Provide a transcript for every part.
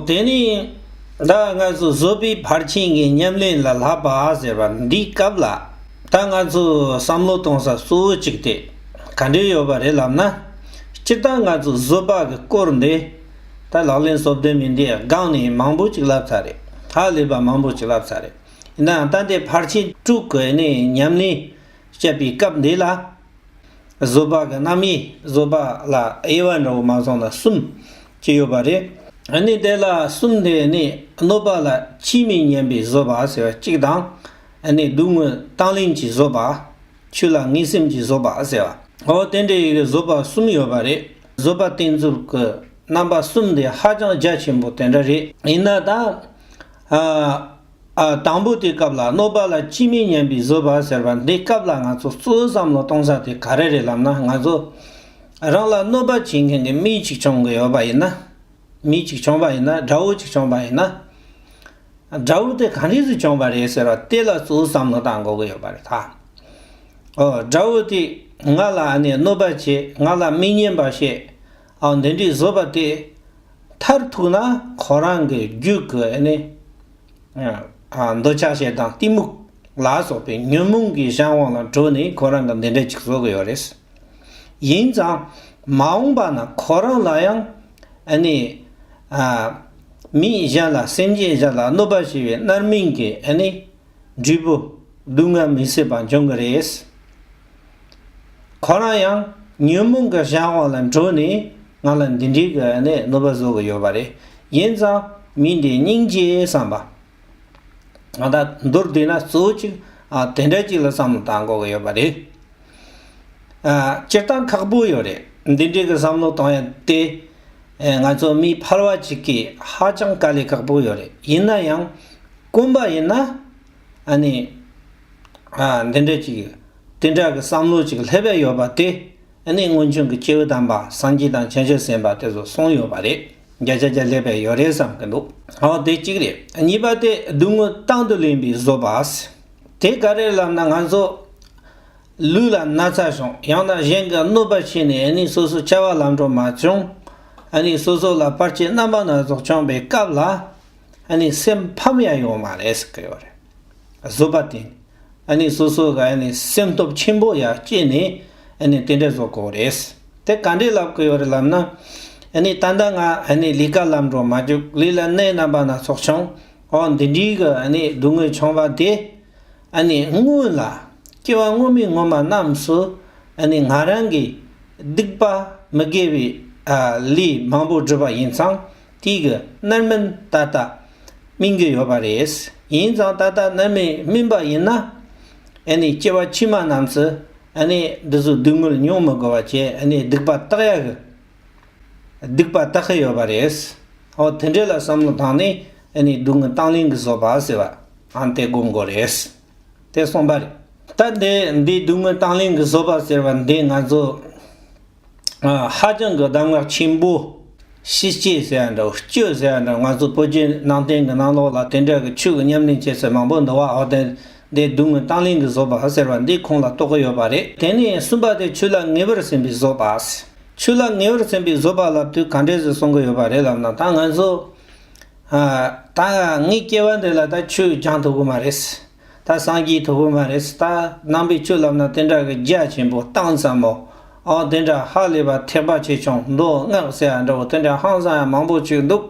དེ་ནི་ད་ང་ཚོ་བཟོ་པའི་ཕར་ཕྱིན་གྱི་ཉམས་ལེན་ལ་ལྷག་པ་ཟེར་བ་འདི་སྐབས་ལ་ད་ང་ཚོས་བསམ་བློ་གཏོང་ས་གཙོ་བོ་གཅིག་དེ་ག་འདྲས་ཡོད་པ་རེད་ལབ་ན། སྤྱིར་བཏང་ང་ཚོས་བཟོ་པ་གི་སྐོར་འདི་ད་ལག་ལེན་བཟོ་བདེ་མི་བདེའི་སྒང་ནས་མང་པོ་ཅིག་ལབ་ཚར་རེད་ཧ་ལས་པ་མང་པོ་ཅིག་ལབ་ཚར་རེད་ཡིན་ནའང་ད་ལྟའི་ཕར་ཕྱིན་དཀྲུག་དགོས་ནས་ཉམས་ལེན་བྱེད་པའི་སྐབས་འདི་ལ། བཟོད་པ་གི་རྣམ་དབྱེ་བཟོད་པ་ལ་དབྱེ་བ་འདྲ་བོ་མ་ཚང་ན་གསུམ་གཅིག་ཡོད་པ་རེད། ནི་དེ་ལ་གསུམ་དེ་ནི་གནོད་པ་ལ་ཕྱིས་མི་ཉན་པའི་བཟོད་པ་ཟེར་བ་གཅིག་དང། ནི་སྡུག་བསྔལ་བཏང་ལེན་གྱི་བཟོད་པ། ཆོས་ལ་ངེས་སེམས་ཀྱི་བཟོད་པ་ཟེར་བ། འོ་དེ་འདྲའི་བཟོད་པ་གསུམ་ཡོད་པ་རེད། བཟོད་པ་བསྟེན་ཚུལ་གྱི་རྣམ་པ་གསུམ་དེ་ཧ་ཅང་རྒྱ་ཆེན་པོ་དེ་འདྲ་རེད། ཡིན་ན་ད། དང་པོ་དེའི་སྐབས་ལ་གནོད་པ་ལ་ཅི་མི་སྙམ་པའི་བཟོད་པ་ཟེར་བ་འདི་སྐབས་ལ་ང་ཚོ་གཙོ་བོས་བསམ་བློ་གཏོང་ས་དེ་ག་རེ་རེད་ལབ་ན་ང་ཚོ་རང་ལ་གནོད་པ་བྱེད་མཁན་གྱི་མི་གཅིག་བྱུང་གི་ཡོད་པ་ཡིན་ན། མི་གཅིག་བྱུང་བ་ཡིན་ན་དགྲ་བོ་གཅིག་བྱུང་བ་ཡིན་ན། དགྲ་བོ་དེ་གང་རིགས་སུ་བྱུང་བ་རེད་ཟེར་བ་དེ་ལ་གཙོ་བོས་བསམ་བློ་གཏང་དགོས་ཀྱི་ཡོད་པ་རེད། དགྲ་བོ་དེས་ང་ལ་གནོད་པ་བྱེད་ང་ལ་མི་སྙན་པ་བཤད་འདི་འདྲའི་བཟོད་པ་དེ་མཐར་ཐུག་ན་ཁོ་རང་གི་རྒྱུད་ཀྱི་འདོད་ཆགས་ཞེ་སྡང་གཏི་མུག་ལ་སོགས་པའི་ཉོན་མོངས་ཀྱི་གཞན་དབང་ལ་གྲོལ་ནས་ཁོ་རང་གི་འདི་འདྲ་ཅིག་བཟོ་གི་ཡོད་རེད། ཡིན་ཙང་མ་འོངས་པ་ན་ཁོ་རང་ལ་ཡང་མི་གཞན་ལ་སེམས་ཅན་གཞན་ལ་གནོད་པ་བྱས་པའི་མནར་མིང་གི་འབྲས་བུ་སྡུག་བསྔལ་མི་སྲིད་པ་འབྱུང་གི་རེད། ཁོ་རང་ཡང་ཉོན་མོངས་ཀྱི་གཞན་དབང་ལ་འགྲོ་ནས་ང་ལ་འདི་འདྲའི་གི་ནས་གནོད་པ་བཟོ་གི་ཡོད་པ་རེད་ཡིན་ཙང་མི་འདི་སྙིང་རྗེ་བསམ་པ། ང་ད་མདོར་བསྡུས་ན་གཙོ་བོ་གཅིག་དེ་འདྲ་གཅིག་ལ་བསམ་བློ་བཏང་དགོས་གི་ཡོད་པ་རེད། སྤྱིར་བཏང་ཁག་པོ་ཡོད་རེད་འདི་འདྲའི་གི་བསམ་བློ་བཏང་ཡ་དེ་ང་ཚོ་མི་ཕལ་བ་གཅིག་གིས་ཧ་ཅང་དཀའ་ལས་ཁག་པོ་ཡོད་རེད་ཡིན་ན་ཡང་དཀོན་པ་ཡིན་ན་ཨ་ནི། འདི་འདྲ་ཅིག། དེ་འདྲ་གི་བསམ་བློ་ཅིག་ལྷད་པས་ཡོད་པ་དེ། ཨ་ནི་སྔོན་བྱུང་གི་སྐྱེ་བོ་དམ་པ་སངས་རྒྱས་དང་བྱང་ཆུབ་སེམས་དཔའ་དེ་ཚོ་སོང་ཡོད་པ་རེད། བརྒྱ་ཆ་བརྒྱ་ལྷད་པས་ཡོད་རེད་བསམ་གི་འདུག་ཨོ་དེ་གཅིག་རེད། གཉིས་པ་དེ་སྡུག་བསྔལ་དང་དུ་ལེན་པའི་བཟོ་པ། དེ་ག་རེ་ལབ་ན་ང་ཚོ། ལུས་ལ་ན་ཚ་བྱུང་ཡང་ན་གཞན་གྱི་གནོད་པ་ཆེ་ནས་ཨ་ནི་སོ་སོ་བྱ་བ་ལམ་འགྲོ་མ་བྱུང། ཨ་ནི་སོ་སོ་ལ་བར་ཆད་རྣམ་པ་སྣ་ཚོགས་བྱུང་པའི་སྐབས་ལ། ཨ་ནི་སེམས་ཕམ་ཡང་ཡོང་མ་རེད་ཟེར་གི་ཡོད་རེད། བཟོད་པ་དེ་ཨ་ནི་སོ་སོ་ག་ཨ་ནི་སེམས་སྟོབས་ཆེན་པོ་ཡ་སྐྱེས་ནས་ཨ་ནི་དེ་འདྲ་བཟོ་དགོས་རེད། དེ་ག་འདྲས་ལབ་གི་ཡོད་རེད་ལབ་ན། ཨ་ནི་ད་ལྟ་ང་ཨ་ནི་ལི་ཀ་ལམ་འགྲོ་མ་བཅུག་ལི་ལ་གནས་རྣམ་པ་སྣ་ཚོགས་བྱུང་ཨོ་འདི་འདྲིའི་གི་ཨ་ནི་སྡུག་དངོས་བྱུང་བ་དེ་ཨ་ནི་སྔོན་ལ་སྐྱེ་བ་སྔོན་མའི་སྔོན་མ་རྣམས་སུ་ཨ་ནི་ང་རང་གིས་སྡིག་པ་མི་དགེ་བའི་ལས་མང་པོ་བསྒྲུབས་པ་ཡིན་ཙང་ཏིག་གི་རྣར་སྨིན་ཏག་ཏག་སྨིན་གྱི་ཡོད་པ་རེད། ཡིན་ཙང་ཏག་ཏག་རྣར་མི་སྨིན་པ་ཡིན་ན། ཨེ་ནི་སྐྱེ་བ་ཕྱི་མ་རྣམས་སུ་ཨེ་ནི་འདི་ཚོ་སྡུག་བསྔལ་མྱོང་མི་དགོས་པ་བྱས་ཨེ་ནི་སྡིག་པ་བཏགས་ཡག་གི། སྡིག་པ་བཏགས་ཁི་ཡོད་པ་རེད། ཨོ་དེ་འདྲས་ལ་བསམ་བློ་བཏང་ནས་ཨེ་ནི་སྡུག་བསྔལ་བཏང་ལེན་གི་བཟོ་པ་ཟེར་བ་ཨང་དེ་དགོངས་དགོས་རེད། དེ་གསུངས་པ་རེད། ད་འདི་འདི་སྡུག་བསྔལ་བཏང་ལེན་གི་བཟོ་པ་ཟེར་བ་འདི་ང་ཚོ། ཧ་ཅང་གི་གདམས་ངག་ཆེན་པོ། ཤེས་བྱེད་ཟེར་བ་འདྲ་བོ་སྤྱོད་ཟེར་བ་འདྲ་བོ་ང་ཚོ་བོད་བརྒྱུད་ནང་བསྟན་གྱི་ནང་ལོགས་ལ་དེ་འདྲ་གི་ཆོས་ཀྱི་ཉམས་ལེན་བྱེད་སའི་མང་པོ་འདུག་བ་ཧོར་ཟླའི་སྡུག་བསྔལ་བཏང་ལེན་གྱི་བཟོ་པ་ཟེར་བ་འདི་ཁོང་ལ་རྟོག་གི་ཡོད་པ་རེད། དེ་ནས་གསུམ་པ་དེ་ཆོས་ལ་ངེས་པར་ཟིན་པའི་བཟོ་པ། ཆོས་ལ་ངེས་པར་ཟིན་པའི་བཟོ་པ་ལ་དུས་ག་འདྲས་སུ་གསུང་གི་ཡོད་པ་རེད་ལབ་ན་ད་ང་ཚོ། ད་ངའི་སྐྱེ་བ་འདི་ལ་ད་ཆོས་སྦྱང་ཐུབ་ཀྱི་མ་རེད། ད་སངས་རྒྱས་ཐོབ་པོ་མ་རེད་སི་ཏཱ་ནང་པས་ཆུ་ལབ་ན་དེ་འདྲ་གི་རྒྱ་ཆེན་པོ་བཏང་ཙམ་མོ་ཨོ་དེ་འདྲ་ཧ་ལས་པ་ཐེག་པ་ཆེ་ཆུང་མདོ་སྔགས་ཟེར་ཡ་འདྲ་བོ་དེ་འདྲ་ཧང་སང་ཡ་མང་པོ་བྱོས་འདུག་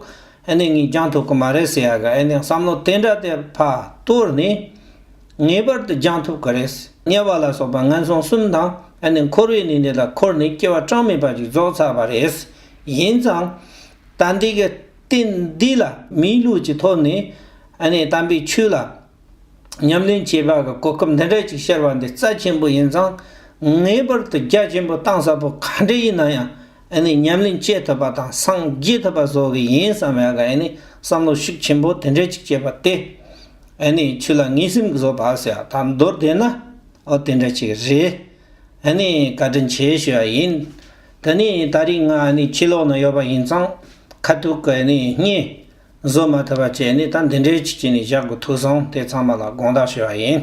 ཨེ་ནས་ངས་སྦྱང་ཐུབ་གི་མ་རེད་ཟེར་ཡ་གི་ཨེ་ནས་བསམ་བློ་དེ་འདྲ་དེ་ཕ་གཏོར་ནས་ངེས་པར་དུ་སྦྱང་ཐུབ་གི་རེད་དམྱལ་བ་ལ་སོགས་པ་ངན་སོང་གསུམ་དང་ཨེ་ནས་འཁོར་བའི་གནས་འདི་ལ་འཁོར་ནས་སྐྱེ་བ་གྲངས་མེད་པ་ཞིག་རྫོགས་ཚར་བ་རེད་ཡིན་ཙང་ད་འདི་གི། རྟེན་འདི་ལ་མིའི་ལུས་ཀྱི་ཐོག་ནས་ནས་དམ་པའི་ཆོས་ལ་ཉམས་ལེན་བྱེད་པ་གི་གོ་སྐབས་འདི་འདྲ་ཅིག་ཤར་བ་འདི་རྩ་ཆེན་པོ་ཡིན་ཙང་ངེས་པར་དུ་རྒྱ་ཆེན་པོ་གཏང་ས་པོ་ག་འདྲ་ཡིན་ན་ཡང་ཉམས་ལེན་བྱེད་ཐུབ་པ་དང་སངས་རྒྱས་ཐུབ་པ་བཟོ་གི་ཡིན་བསམ་པའི་བསམ་བློ་ཤུགས་ཆེན་པོ་དེ་འདྲ་ཅིག་བསྐྱེད་པ་དེ་ཆུ་ལ་ངེས་སེམས་ཀྱི་སོ་བག་ཟེར་བ་དང་མདོར་བསྡད་ན་དེ་འདྲ་ཅིག་རེད་ག་དྲིན་ཆེ་ཞུ་བ་ཡིན། དེ་ནས་ད་རེས་ང་ནི་ཕྱི་ལོགས་ན་ཡོད་པ་ཡིན་ཙང་ཁ་ཐུག་གི་ནི་བརྙན། བཟོ་མ་ཐུབ་པ་བཅས་ནི་ད་འདི་འདྲའི་ཆེད་ཀྱི་ནི་བཞག་དགོས་ཐུག་སོང་དེ་ཚང་མ་ལ་དགོངས་དག་ཞུ་བ་ཡིན།